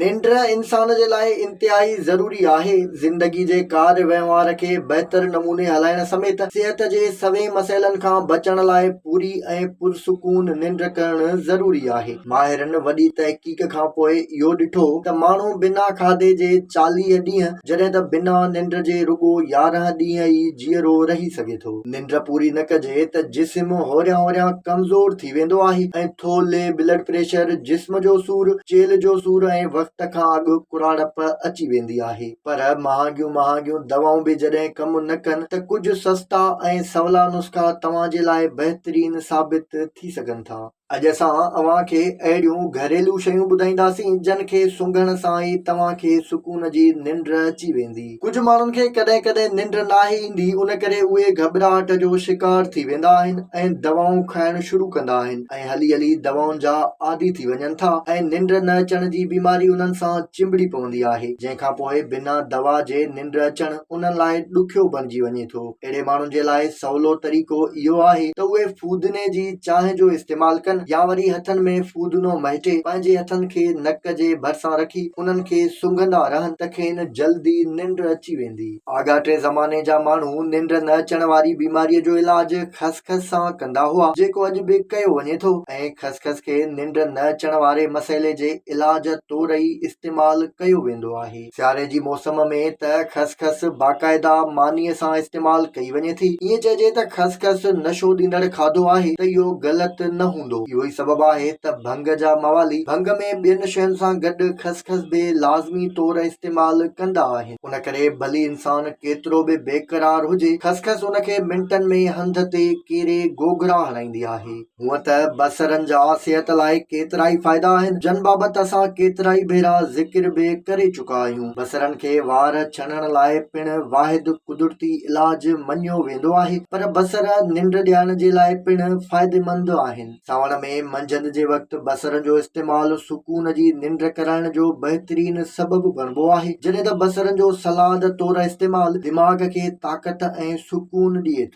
ننڊ انسان جي لاء انتهائي ضروري آهي. زندگي جي ڪار وهنوار کي بهتر نموني هلائڻ سميت صحت جي سوين مسئلن کان بچڻ لاء پوري ۽ پرسڪون ننڊ ڪرڻ ضروري آهي. ماهرن وڏي تحقيق کان پوء اهو ڏٺو ته ماڻهو بنا کاڌي جي چاليهه ڏينهن جڏهن ته بنا ننڊ جي رڳو يارهن ڏينهن ئي جيئرو رهي سگهي ٿو. ننڊ پوري نه ڪجي ته جسم هوريان هوريان ڪمزور ٿي. ٿي ويندو آهي ۽ ٿو لي بلڊ پريشر، جسم جو سور، چيلهه جو سور ۽ وقت کان اڳ ڪراڙپ اچي ويندي آهي. پر مهانگيون مهانگيون دوائون به جڏهن ڪم نه ڪن ته ڪجهه سستا ۽ سولا نسخا توهان جي لاء بهترين ثابت ٿي سگهن ٿا. اڄ اسان اوهان کي اهڙيون گهريلو شيون ٻڌائينداسين جن کي سنگهڻ سان ئي توهان کي سڪون جي ننڊ اچي ويندي. ڪجهه ماڻهن کي ڪڏهن ڪڏهن ننڊ ناهي ايندي ان ڪري اهي گهٻراهٽ جو شڪار ٿي ويندا آهن ۽ دوائون کائڻ شروع ڪندا آهن ۽ هلي هلي دوائن جا عادي ٿي وڃن ٿا ۽ ننڊ نه اچڻ جي بيماري انهن سان چنبڙي پوندي آهي جنهن کانپوء بنا دوا جي ننڊ اچڻ انهن لاء ڏکيو بڻجي وڃي ٿو. اهڙي ماڻهن جي لاء سولو طريقو اهو آهي ته اهي فودني جي چانهه جو استعمال ڪن يا وري هٿن ۾ فودنو مهٽي پنهنجي هٿن کي نڪ جي ڀرسان رکي انهن کي سنگهندا رهن ته کين جلدي ننڊ اچي ويندي. آڳاٽي زماني جا ماڻهو ننڊ نه اچڻ واري بيماري جو علاج خسخس سان ڪندا هئا جيڪو اڄ به ڪيو وڃي ٿو ۽ خسخس کي ننڊ نه اچڻ واري مسئلي جي علاج طور ئي استعمال ڪيو ويندو آهي. سياري جي موسم ۾ ته خسخس باقاعده مانيء سان استعمال ڪئي وڃي ٿي. ائين چئجي ته خسخس نشو ڏيندڙ کاڌو آهي ته اهو غلط نه هوندو. اهو ئي سبب آهي ته ڀنگ جا موالي ڀنگ ۾ ٻين شين سان گڏ خسخس به لازمي طور استعمال ڪندا آهن. ان ڪري ڀلي انسان ڪيترو به بيقرار هجي، خسخس ان کي منٽن ۾ هنڌ تي ڪيري گوگرا هڻائيندي آهي. هونئن ته بصرن جا صحت لاء ڪيترائي فائدا آهن، جن بابت اسان ڪيترائي ڀيرا ذڪر به ڪري چڪا آهيون. بصرن کي وار ڇڻڻ لاء پڻ واحد قدرتي علاج مڃيو ويندو آهي، پر بصر ننڊ ڏيارڻ جي لاء پڻ فائديمند آهن. سانوڻ ۾ منجهند جي وقت بصرن جو استعمال سڪون جي ننڊ ڪرائڻ جو بهترين سبب بڻبو آهي، جڏهن ته بصرن جو سلاد طور استعمال دماغ کي طاقت ۽ سڪون ڏئي ٿو.